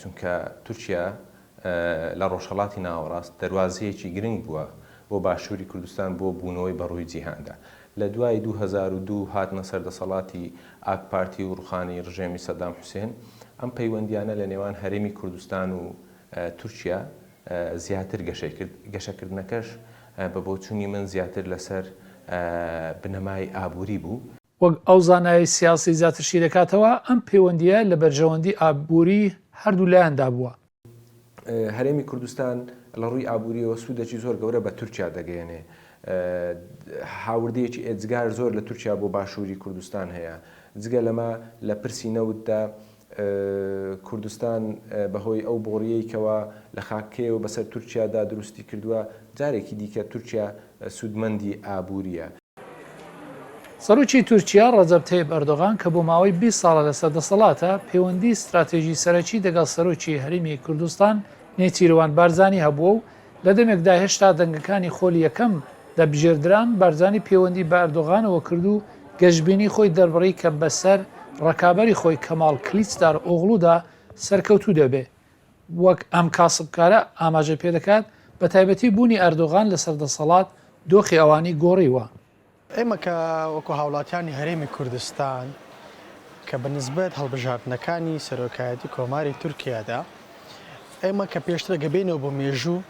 چونکە تورکیا لە ڕۆژهەڵاتی ناوەڕاست دەروازەیەکی گرنگ بووە بۆ باشووری کوردستان بۆ بوونەوەی بە ڕووی جیهاندا. لە دوای دوو هەزار و دوو هاتنە سەر دەسەڵاتی ئاک پارتی و ڕووخانی ڕژێمی سەدام حوسێن، ئەم پەیوەندییانە لە نێوان هەرێمی کوردستان و تورکیا زیاتر گەشەی کرد، گەشەکردنەکەش بە بۆچوونی من زیاتر لەسەر بنەمای ئابووری بوو. وەک ئەو زانایەی سیاسی زیاتر شی دەکاتەوە، ئەم پەیوەندییە لە بەرژەوەندی ئابووری هەردوو لایاندا بووە. هەرێمی کوردستان لە ڕووی ئابوورییەوە سوودەکی زۆر گەورە بە تورکیا دەگەیەنێ. هاوردەیەکی ئێجگار زۆر لە تورکیا بۆ باشووری کوردستان هەیە. جگە لەمە لە پرسی نەوتدا، کوردستان بەهۆی ئەو بۆڕییەی کەوا لە خاکەکەیەوە بەسەر تورکیادا دروستی کردووە، جارێکی دیکە تورکیا سوودمەندی ئابوورییە. سەرۆکی تورکیا ڕەجەب تەیب ئەردۆغان کە بۆ ماوەی بیست ساڵە لەسەر دەسەڵاتە، پێوەندیی ستراتێژی سەرەکی دەگەڵ سەرۆکی هەرێمی کوردستان نێچیرڤان بارزانی هەبووە و لە دەمێکدا هێشتا دەنگەکانی خۆلی یەکەم دەبژێردران، بارزانی پێوەندی بە ئەردۆغانەوە کرد و گەشبینی خۆی دەربڕی کە بەسەر ڕەکابەری خۆی کەماڵ کلیچدارئۆغڵودا سەرکەوتوو دەبێ. وەک ئەم کاسبکارە ئاماژەی پێدەکات، بەتایبەتی بوونی ئەردۆغان لەسەر دەسەڵات دۆخی ئەوانی گۆڕیوە. ئێمە کە وەکو هاوڵاتیانی هەرێمی کوردستان کە بە نسبەت هەڵبژاردنەکانی سەرۆکایەتی کۆماری تورکیادا ئێمە کە پێشتر ئەگە بێینەوە بۆ مێژوو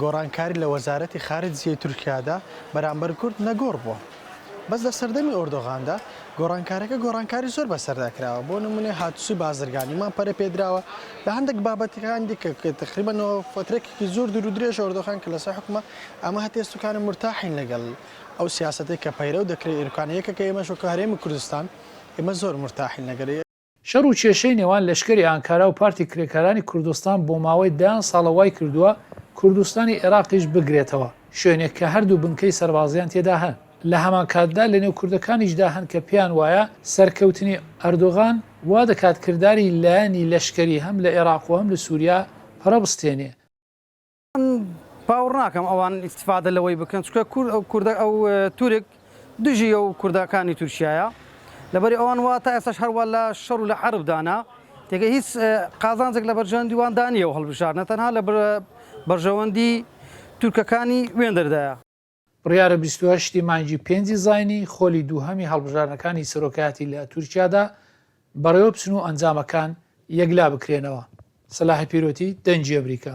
گۆڕانکاری لە وەزارەتی خارجیی تورکیادا بەرامبەر کورد نەگۆڕ بووە بەس لە سەردەمی ئۆردۆغاندا گۆڕانکارەکە گۆڕانکاری زۆر بەسەردا کراوە بۆ نمونێ هاتوچی بازرگانیمان پەرە پێدراوە لە هەندێک بابەتەکان دیکە کە تقریبەنەوە فترێکێکی زۆر دوور و درێژ ئۆردۆغان کە لەسەر حکومە ئەمە هەتێ سوکانە مرتاحین لەگەڵ ئەو سیاسەتەی کە پەیرەو دەکرێ ئێرکانە یەکەکە ئێمەش وەکو هەرێمی کوردستان ئێمە زۆر مورتاحین لەگەر. شەڕ و کێشەی نێوان لەشکەری ئانکارا و پارتی کرێکارانی کوردستان بۆ ماوەی دەیان ساڵە وای کردووە کوردستانی ئێراقیش بگرێتەوە شوێنێک کە هەردوو بنکەی سەربازیان تێدا هەن لە هەمان کاتدا لە نێو کوردەکانیشدا هەن کە پێیان وایە سەرکەوتنی ئەردۆغان وا دەکات کرداری لایەنی لەشکەری هەم لە ئێراق و هەم لە سوریا پەرە بستێنێ. باوەڕ ناکەم ئەوان ئیستیفادە لەوەی بکەن چکە کورد ئەو کوردە ئەو تورک دژی ئەو کوردەکانی تورکایە لەبەری ئەوان وا تا ئێستاش هەروە لە شەڕ و لە عربدانە تێگە هیچ قازانجێک لە بەرژەندیوان دانیە و هەڵبژارنە تەنها لە بەرژەوەندی تورکەکانی وێندەردایە بڕیارە بیست و هەشت ی مانگی پێنجی زاینی خۆلی دووهەمی هەڵبژاردنەکانی سەرۆکایەتی لە تورکیادا بەڕێوەبچن و ئەنجامەکان یەکلابکرێنەوە، سەلاحی پیرۆتی دەنگی ئەمریکا.